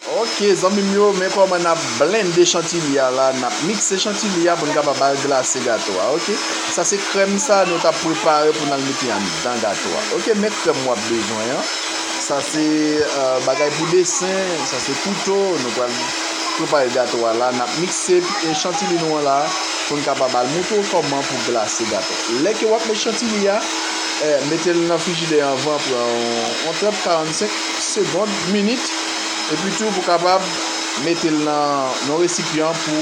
Ok zanmim yo men kòman nap blende chantilly a la nap mikse chantilly a pou nou kapab al glase gato a ok sa se krèm sa nou tap prepare pou nou al mete anndan gato a ok men krèm wap bezwen an sa se bagay pou desen sa se kouto nou pral prepare gato a la nap mikse chantilly nou an la pou nou kapab al moutre w kòman pou glase gato lè ke wap met chantilly a metel nan frijidè anvan pran yon 30 45 segond minit. Epi tou pou kapab mete l nan yon resipyan pou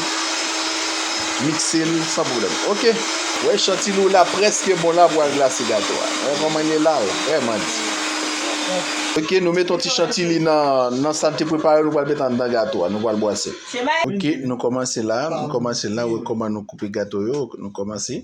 mikse l san pwoblèm. Ok. Wè chantilou w la prèske bon la pou al glase gato a. Wè kòman li la l vrèman di. Ok nou met yon ti chantili nan sa n te prepare yo nou pral met anndan gato a nou pral bwase. Ok nou kòmanse la nou kòmanse la wè kòman nou koupe gato yo nou kòmanse.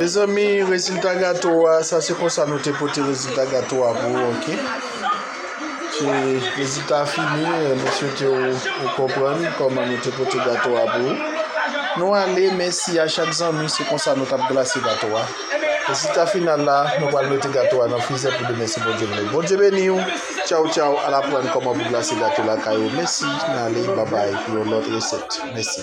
Mezanmi rezilta gato a sa se konsa nou te pote rezilta gato a pou ok se rezilta fini nou swete ou konprann koman nou te pote gato a pou nou ale mèsi a chak zanmi se konsa nou tap glase gato a rezilta final la nou pral mete gato a nan frizè pou demen si Bondye vle Bondye beniw Tchaw tchaw al aprann kòman pou glase gato lakay ou mèsi nale babay pou yon lòt resèt mèsi.